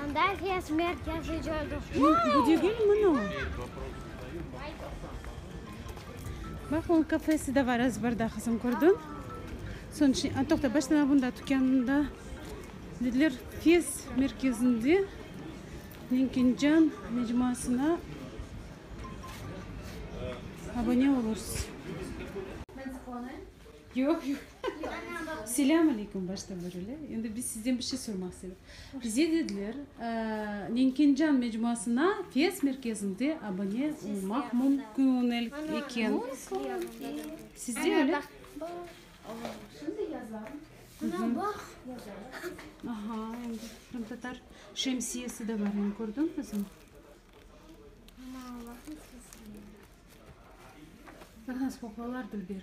Handafiya smert yazıcıdı. Bu degilmi no? Bak, onun kafesi de var ezberda, qızım, kördiñ? Soñ içi, a, toqta, baştan avında tükânında, dediler, fiyes merkezinde Menkencan mecmuasına abone olursiz. Yoq, yoq. Selâm aleyküm başta berile. Endi biz sizden bir şey sormaq istedik. Bize dediler, Nenkencan mecmuasına Fes merkezinde abone olmaq mümkün eken. Sizde öyle? Şimdi yazarım. Ana bax, yazarım. Aha, endi qırımtatar şemsiyesi de bar, endi kördüñizmi? Ana, bax, Aha, spoqlalar dilber.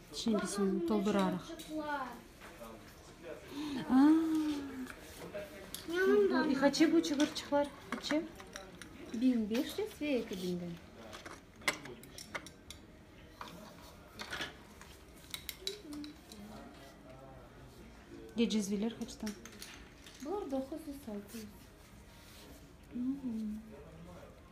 Şeñkisini toldurarıq. Aa! Qaçe bu çıqırçıqlar? Qaçe? Biñ beş yüz ve eki biñden. Ya cezveler qaçtan? Bular doquz yüz, altı yüz.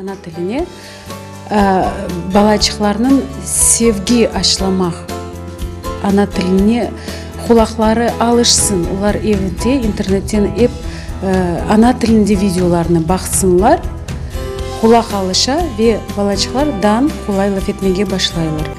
Ana tiline balaçıqlarnıñ sevgi aşılamaq, ana tiline qulaqları alışsın, olar evde internetten ep ana tilinde videolarnı baqsınlar, qulaq alışa ve balaçıqlardan qolay laf etmege başlaylar.